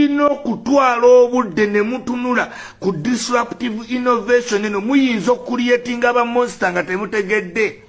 tulina okutwala obudde ne mutunula ku disruptive innovation eno muyinza okuliyetinga ba monster nga temutegedde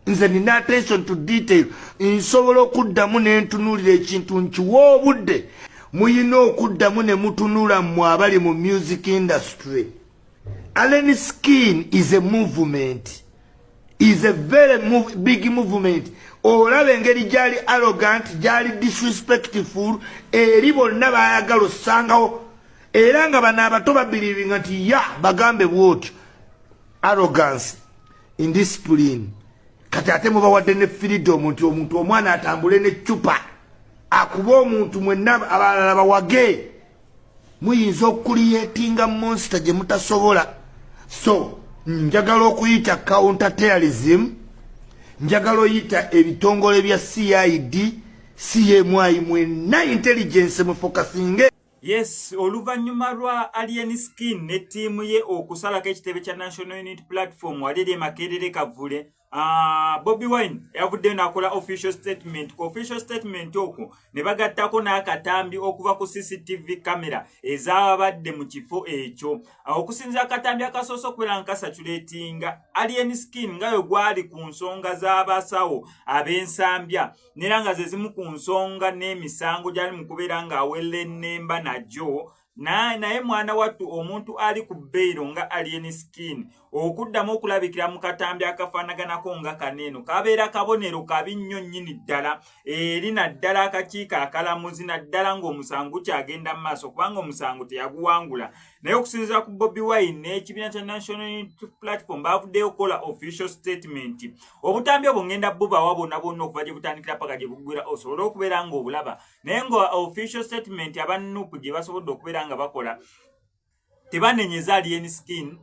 nze nina attention to detail nsobola okuddamu nentunuulira ekintu nkiwa obudde muyina okuddamu ne mutunula mmwe abali mu music industry allen skin is a movement is a very move, big movement olaba engeri gyali arrogant gyali disrespectful eri bonna bayagala ossangawo era nga bano abato babiriringa nti ya bagambe bwotyo arrogance indiscipline kati ate mubawadde ne freedom nti omuntu omwana atambule ne cupa akuba omuntu mwenna abalala bawage muyinza okuliyetinga monster gye mutasobola so njagala okuyita counterterrorism njagala oyita ebitongole bya cid cmyi mwenna intelligence mufokasinge Yes, oluvannyuma lwa Alien Skin ne ttiimu ye okusalako ekitebe kya National Unity Platform wali eri e Makerere Kavule Ah, Bobby Wine yavuddeyo n'akola official statement ku official statement okwo ne bagattako n'akatambi okuva ku CCTV kamera ezaabadde mu kifo ekyo ah, okusinza akatambi akasoose okubeera nga kasaculatinga Alien Skin nga yo gwali ku nsonga z'abasawo ab'ensambya nera nga zezimu ku nsonga n'emisango gyali mu kubeera ng'awelennemba nagyo naye mwana wattu omuntu ali ku beyiro nga alien skin okuddamu okulabikira mu katambi akafaanaganako nga kaneeno kabeera kabonero kabi nnyo nnyini ddala eri naddala akakiiko akalamuzi naddala ng'omusango kyagenda mu maaso kubanga omusango teyaguwangula naye okusinzira ku bobi wine n'ekibiina kya national unity platform bavuddeyo okukola official statement obutambi obwo ngenda bubawa bonna bonna okuva gye butandikira paka gye bugwira osobole okubeera nga obulaba naye nga official statement aba nup gye basobodde okubeera nga bakola tebanenyeza alien skin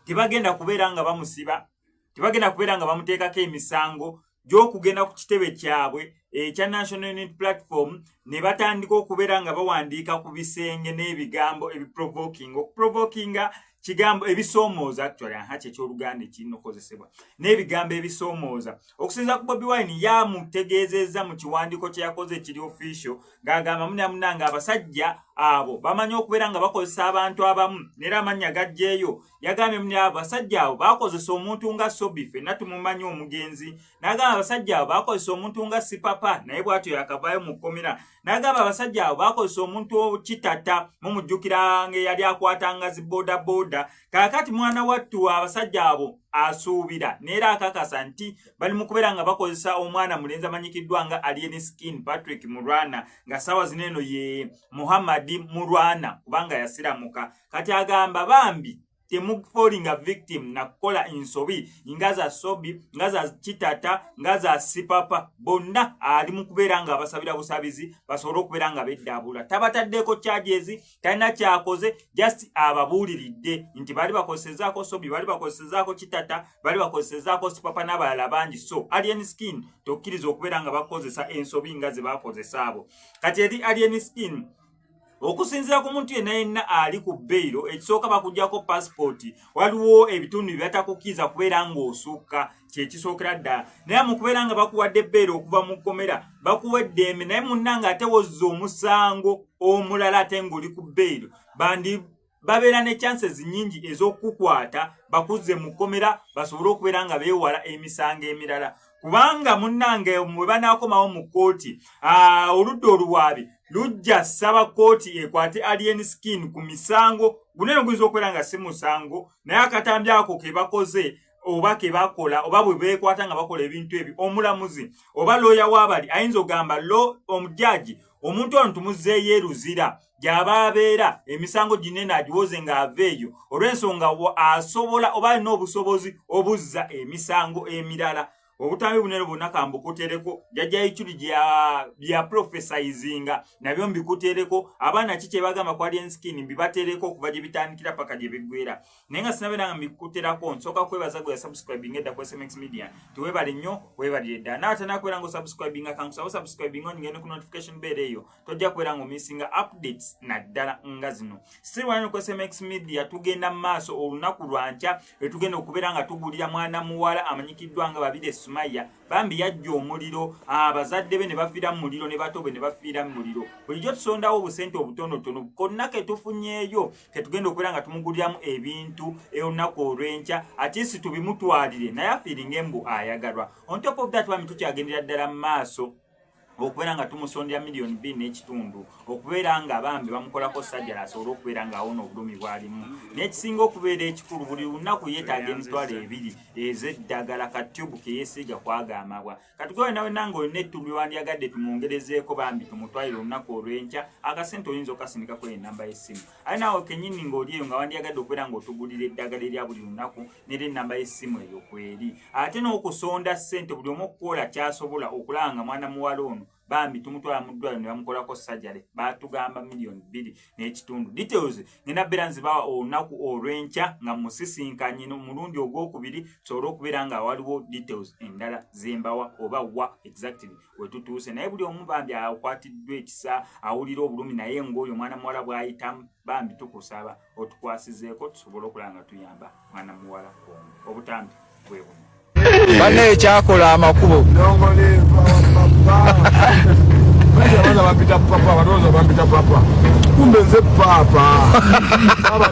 tebagenda kubeera nga bamusiba tebagenda kubeera nga bamuteekako emisango gy'okugenda ku kitebe kyabwe ekya national unit platform ne batandika okubeera nga bawandiika ku bisenge n'ebigambo ebiprovokinga okuprovokinga kigambo ebisoomooza actually aha kyekyoluganda ekirina okukozesebwa n'ebigambo ebisoomooza okusinza ku bobi wine yamutegeezezza mu kiwandiiko kye yakoze ekiri official ng'agamba munamunanga abasajja abo bamanyi okubeera nga bakozesa abantu abamu neera amannya gajjeeyo yagambye muni abasajja abo bakozesa omuntu nga sobi fenna tumumanyi omugenzi nagamba abasajja abo bakozesa omuntu nga sipapa naye bwatyo yakavayo mu kkomera nagamba abasajja abo bakozesa omuntu kitata mumujjukira nga eyali akwatanga zi bodaboda kakati mwana wattu abasajja abo asuubira neera akakasa nti bali mu kubeera nga bakozesa omwana mulenzi amanyikiddwa nga alien skin patrick murwana nga saawa zino eno ye muhammadi murwana kubanga yasiramuka kati agamba bambi temufolinga victim nakukola ensobi nga za sobi nga za kitata nga za sipapa bonna ali mu kubeera nga abasabira busabizi basobole okubeera nga beddaabula tabataddeko kyajezi talina kyakoze just ababuuliridde nti baali bakozesezaako sobi baali bakozesezaako kitata baali bakozesezaako sipapa n'abalala bangi so alien skin tokkiriza okubeera nga bakozesa ensobi nga ze bakozesa abo kati eri alien skin okusinzira ku muntu yenna yenna ali ku beyiro ekisooka bakugyako pasipooti waliwo ebitundu bye batakukkiriza kubeera ng'osukka kyekisookera ddala naye mu kubeera nga bakuwadde beyiro okuva mu kkomera bakuwa eddembe naye munna ng'ate wozza omusango omulala ate ng'oli ku beyiro bandi babeera ne chances nyingi ez'okukukwata bakuzze mu kkomera basobole okubeera nga beewala emisango emirala kubanga munnange mwe banaakomawo mu kkooti ah, oludda oluwaabi lujja saba kkooti ekwate alien skin ku misango gunene guyinza okubeera nga si musango naye akatambi ako ke bakoze oba kebakola oba bwe bekwata nga bakola ebintu ebyo omulamuzi oba looya wabali ayinza ogamba lo omujaji omuntu ono tumuzeeyo eruzira gy'aba abeera emisango ginene agiwoze ng'ava eyo olw'ensonga asobola oba alina obusobozi obuzza emisango emirala obutambi bunene bwonna kambukutereko jajja iculi bya profesayizinga nabyo mbikutereko abaana ki kyebagamba ku alien skin mbibatereko okuva gye bitandikira paka gye biggwera naye nga sinabeera nga mbikuterako nsooka kwebaza gwe yasubscribing edda ku smx media tiwebale nnyo webalire ddala naatanakubeera nga osubscribinga kankusaba osubscribinga onyigende ku notification beera eyo tojja kubeera nga omisinga updates naddala nga zino sirwanokosmx media tugenda mu maaso olunaku lwankya lwetugenda okubeera nga tugulira mwana muwala amanyikiddwa nga babiri esumaya bambi yajja omuliro abazadde ah, be ne bafiira mu muliro ne bato be ne bafiira mu muliro bulijjo tusondawo obusente obutonotono konna ketufunyeeyo ketugenda okubeera nga tumuguliramu ebintu olunaku olwenkya atisi tubimutwalire naye afiiringa embu ayagalwa on top of that bambi tukyagendera ddala mu maaso okubeera nga tumusondera miliyoni bbiri n'ekitundu okubeera nga bambi bamukolako sajjala asobole okubeera nga awona obulumi bwalimu n'ekisinga okubeera ekikulu buli lunaku yeetaaga emitwalo ebiri ez'eddagala ka tube keyesiiga kwagamabwa katugobe nawe nange olina ettubu lwewandyagadde tumwongerezeeko bambi tumutwalire olunaku olw'enkya akasente oyinza okasindikako enamba y'essimu aye naawe kenyini ng'oli eyo nga wandyagadde okubeera ng'otugulira eddagala erya buli lunaku nera ennamba y'essimu eyo kweri ate n'okusonda ssente buli omu okukola kyasobola okulaba nga mwana muwala ono bambi tumutwala mu ddwaliro ne bamukolako sajale baatugamba miliyoni bbiri n'ekitundu details ngenda beera nzibawa olunaku olw'enkya nga musisinkanye omulundi ogwokubiri tusobole okubeera nga waliwo details endala zembawa oba wa exactly wetutuuse naye buli omu bambi akwatiddwa ekisa awulira obulumi naye ngaoyo omwana muwala bwayitamu bambi tukusaba otukwasizeeko tusobole okulaba nga tuyamba mwana muwala omu obutambi bwe buno bana ekyakola amakubo kumbe nze paapa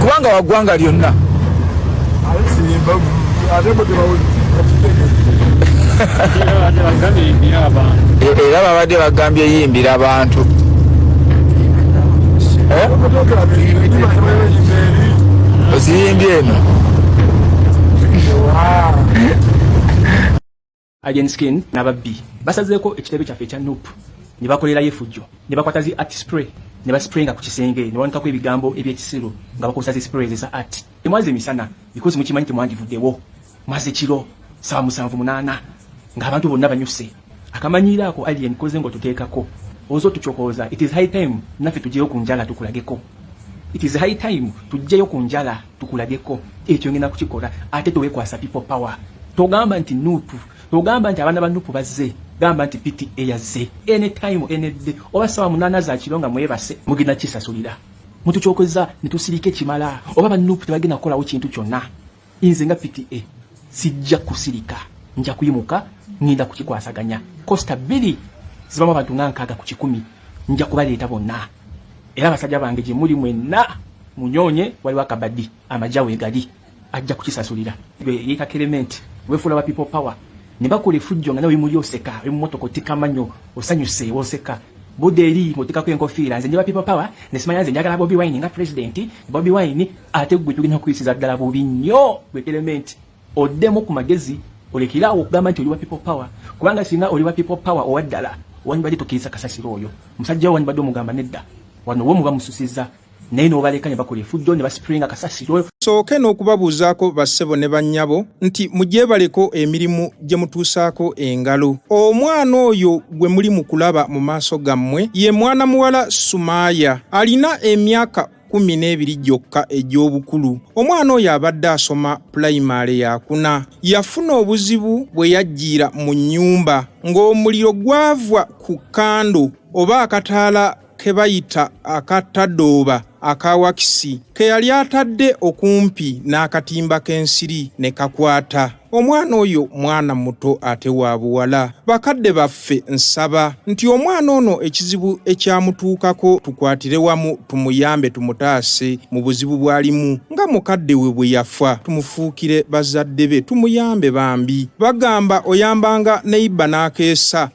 kubanga wagwanga lyonna era babadde bagambye yimbira abantu eh? oziyimbye eno Alien Skin n'ababbi basazeeko ekitebe kyaffe ekya Nup ne bakolerayo efujjo ne bakwata zi art spray ne baspraynga ku kisenge ne bawanikako ebigambo eby'ekisiru nga bakozesa zi spray eza art temwaze misana because mukimanyi temwandivuddewo mwaze kiro saawa musanvu munaana ng'abantu bonna banyuse akamanyiiro ako alien koze ng'otuteekako oza otucokooza it is high time naffe tugyeyo ku njala tukulageko it is high time tugyeyo ku njala tukulageko ekyo ngenda kukikola ate tewekwasa people power togamba nti nupu togamba nti abaana ba nupu bazze gamba nti pta yazze anytime enedde oba sawa munana zakiro nga mwebase mugenda kisasulira mutukyokozza netusirika ekimala oba ba nupu tebagenda kukolawo kintu kyonna inze nga pta sijja kusirika nja kuyimuka ngenda kukikwasaganya kosta bbiri zibamu abantu nga nkaaga ku kikumi nja kubaleeta bonna Era basajja bange gye muli mwenna munyonye waliwo akabadi amagya wegali ajja kukisasulira yeka kerementi wefuula ba people power ne bakola efujjo nga nawe muli oseka oli mumotoka otika manyo osanyuse woseka budde eri ng'otikako enkofiira nze nje ba people power ne simanya nze njagala bobi wine nga president bobi wine ate gwe tugenda kuyisiza ddala bubi nnyo gwe kerementi oddemu ku magezi olekere awo okugamba nti oli wa people power kubanga singa oli wa people power owa ddala wandibadde tokkiriza kasasiro oyo musajja wo wandibadde omugamba nedda wano wo muba mususiza naye n'obaleka ne bakola efujjo ne basipulinga kasasiro sooke n'okubabuuzaako bassebo ne bannyabo nti mugyebaleko emirimu gye mutuusaako engalo omwana oyo gwe muli mu kulaba mu maaso gammwe ye mwana muwala sumaaya alina emyaka kkumi n'ebiri gyokka egy'obukulu omwana oyo abadde asoma pulayimaale yakuna yafuna obuzibu bwe yajjiira mu nnyumba ng'omuliro gwava ku kando oba akataala ke bayita aka tadooba aka wakisi ke yali atadde okumpi n'akatimba k'ensiri ne kakwata Omwana oyo mwana muto ate wa buwala. Bakadde baffe nsaba nti omwana ono ekizibu ekyamutuukako tukwatire wamu tumuyambe tumutaase mu buzibu bw'alimu nga mukadde we bwe yafa tumufuukire bazadde be tumuyambe bambi. Bagamba oyambanga neyiba n'akeesa.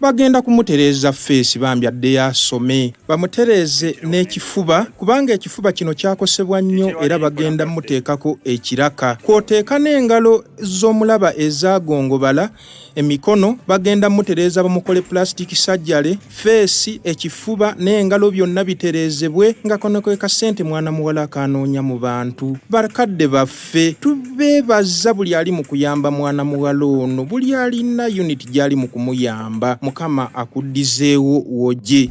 Bagenda kumutereeza ffeesi bambi addeyo asome bamutereeze n'ekifuba kubanga ekifuba kino kyakosebwa nnyo era bagenda muteekako ekiraka kw'oteeka n'engalo z'omulaba ezaagongobala emikono bagenda mutereeza bamukole pulasitiki sajjale ffeesi ekifuba n'engalo byonna bitereezebwe nga kono kwe kasente mwana muwala akaanoonya mu bantu bakadde baffe ffe tubeebaza buli ali mu kuyamba mwana muwala ono buli alina unit gy'ali mu kumuyamba mukama akuddizeewo woje